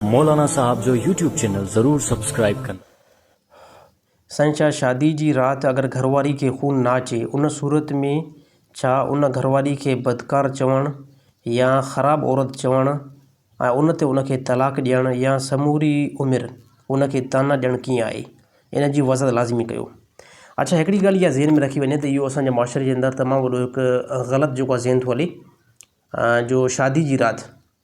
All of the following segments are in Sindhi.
مولانا صاحب جو يوٽيوب چينل ضرور سبسڪرائب ڪن. سائين ڇا شادي جي رات اگر گهرواري کي خون نه اچي ان صورت ۾ ڇا ان گهرواري کي بدڪار چوڻ يا خراب عورت چوڻ ۽ ان تي ان کي طلاق ڏيڻ يا سموري عمر ان کي طعنا ڏيڻ ڪيئن آهي ان جي وضاحت لازمي ڪيو. اڇا هڪڙي ڳالهه اها ذهن ۾ رکي وڃي ته اهو اسان جي معاشري جي اندر تمام وڏو هڪ غلط جيڪو آهي ذهن ٿو هلي جو شادي جي رات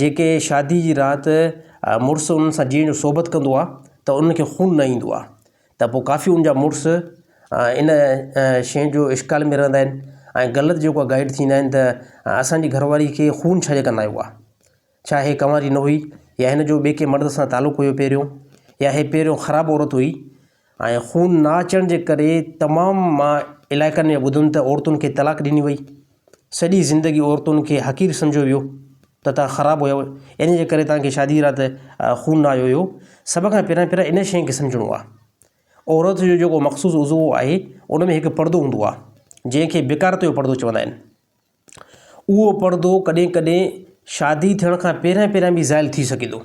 جيڪي شادي جي رات مڙس انهن سان جيئڻ جو صحبت ڪندو آهي ته انهن کي خون نه ايندو آهي ته پوء ڪافي ان جا مڙس ان شين جو اشڪال ۾ رهندا آهن ۽ غلط جيڪو گائيڊ ٿيندا آهن ته اسانجي گهر واري کي خون ڇا جي ڪندا آهيو ڇا هي ڪنواري نه هئي يا هن جو ٻي ڪنهن مرد سان تعلق هيو پهريون يا هي پهريون خراب عورت هئي ۽ خون نه اچڻ جي ڪري تمام علائقن ۾ ٻڌم ته عورتن کي طلاق ڏني وئي سڄي زندگي عورتن کي حقير سمجهيو ويو ته تان خراب هيو ان جي ڪري تانکي شادي رات خون نه آيو هيو سڀ کان پهريان پهريان ان شئي کي سمجهڻو آ عورت جو جيڪو مخصوص عضو آهي ان ۾ هڪ پڙدو هوندو آ جنهن کي بڪارت جو پڙدو چوندا آهن اهو پڙدو ڪڏهن ڪڏهن شادي ٿيڻ کان پهريان پهريان به زائل ٿي سگهي ٿو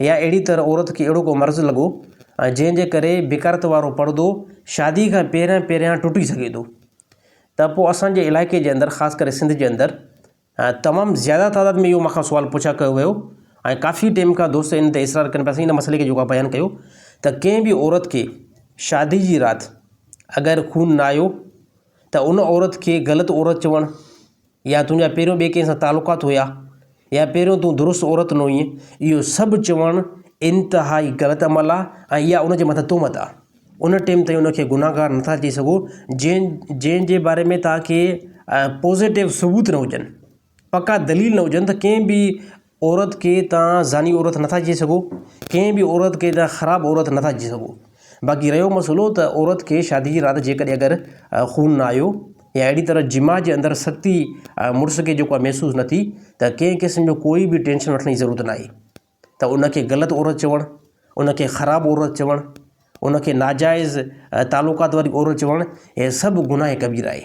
يا اهڙي طرح عورت کي اهڙو ڪو مرض لڳو جنهن جي ڪري بڪارت وارو پڙدو شادي کان پهريان پهريان ٽٽي سگهي ٿو ته پوء اسان جي علائقي جي اندر خاص ڪري سنڌ جي اندر تمام زياده تعداد ۾ اهو مون کان سوال پڇا ڪيو ويو ۽ ڪافي ٽيم کان دوست ان تي اصرار ڪن پيا سين ان مسئلي کي جيڪو بيان ڪيو ته ڪنهن به عورت کي شادي جي رات اگر خون نه آيو ته ان عورت کي غلط عورت چوڻ يا تنهنجا پهريون ٻئي ڪنهن سان تعلقات هيا يا پهريون تون درست عورت نه هئين، اهو سڀ چوڻ انتهائي غلط عمل آ ۽ اها ان جي مٿان تهمت آ. ان ٽيم تائين ان کي گنهگار نه ٿا چئي سگهو جنهن جنهن جي باري ۾ توهان کي پوزيٽو ثبوت نه هجن، پڪا دليل نه هجن ته ڪنهن به عورت کي توهان زاني عورت نٿا چئي سگهو، ڪنهن به عورت کي توهان خراب عورت نٿا چئي سگهو، باقي رهيو مسئلو ته عورت کي شادي جي رات جيڪڏهن اگر خون نه آيو يا اهڙي طرح جماع جي اندر سختي مڙس کي جيڪو آهي محسوس نه ٿي ته ڪنهن قسم جو ڪوئي به ٽينشن وٺڻ جي ضرورت نه آهي ته ان کي غلط عورت چوڻ، ان کي خراب عورت چوڻ، ان کي ناجائز تعلقات واري عورت چوڻ هي سڀ گناهه ڪبيره آهي.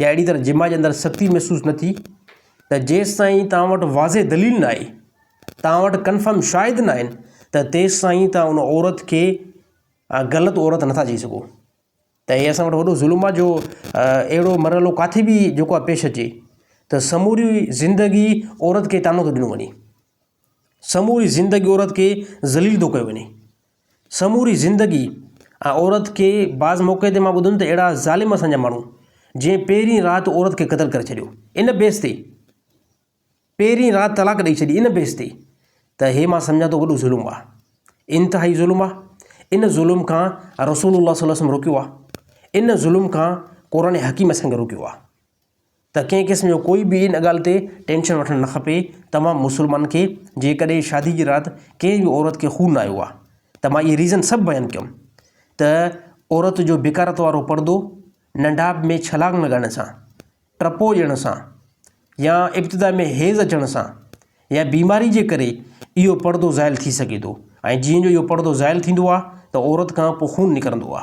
يا اهڙي طرح جماع جي اندر سختي محسوس نه ٿي ته جيستائين توهان وٽ واضح دليل نه آهي، توهان وٽ ڪنفرم شاهد نه آهن ته تيستائين توهان ان عورت کي غلط عورت نٿا چئي سگهو ته هي اسان وٽ وڏو ظلم آهي جو اهڙو مرحلو ڪاٿي به جيڪو آهي پيش اچي ته سموري زندگي عورت کي طعنو ٿو ڏنو وڃي سموري زندگي عورت کي ذليل ٿو ڪيو وڃي. سموري زندگي ۽ عورت کي بعض موقعي تي مان ٻڌم ته اهڙا ظالم اسان جا ماڻهو جنهن پهرين رات عورت کي قتل ڪري ڇڏيو ان بيس تي پهرين رات طلاق ڏئي ڇڏي ان بيس تي ته هي مان سمجهان ٿو وڏو ظلم آ انتهائي ظلم آ ان ظلم کان رسول الله صلي الله عليه وسلم روڪيو آ ان ظلم کان قرآن حڪيم اسان کي روڪيو آ ته ڪنهن قسم جو ڪوئي به ان ڳالهه تي ٽينشن وٺڻ نه کپي ته مان مسلمان کي جيڪڏهن شادي جي رات ڪنهن به عورت کي خون آيو آ ته مان اهي ريزن سڀ بيان ڪيم ته عورت جو بڪارت وارو پردو، ننڍاپ ۾ ڇلانگ لڳائڻ سان، ٽپو ڏيڻ سان يا ابتدا ۾ حيض اچڻ سان يا بيماري جي ڪري اهو پردو زائل ٿي سگهي ٿو ۽ جيئن جو اهو پردو زائل ٿيندو آ ته عورت کان پوء خون نڪرندو آ.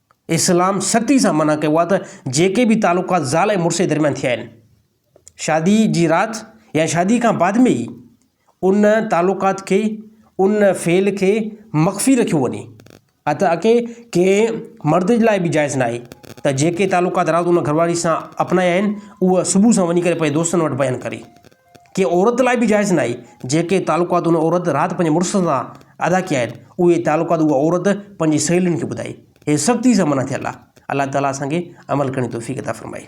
اسلام سختي سان منع ڪيو آهي ته جيڪي به تعلقات زال ۽ مڙس جي درميان ٿيا آهن شادي جي رات يا شادي کان بعد ۾ ئي ان تعلقات کي ان فعل کي مخفي رکيو وڃي اته اڪي ڪنهن مرد جي لاء به جائز ناهي ته جيڪي تعلقات رات ان گهر واري سان اپنايا آهن اهو صبح سان وڃي ڪري پنهنجي دوستن وٽ بيان ڪري ڪنهن عورت لاء به جائز ناهي، جيڪي تعلقات ان عورت رات پنهنجي مڙس سان ادا ڪيا آهن، اهي تعلقات اها عورت پنهنجي سهيلين کي ٻڌائي. هي سختي سان منع ٿيل آهي. الله تعاليٰ اسان کي عمل ڪرڻ جي توفيق عطا فرمائي.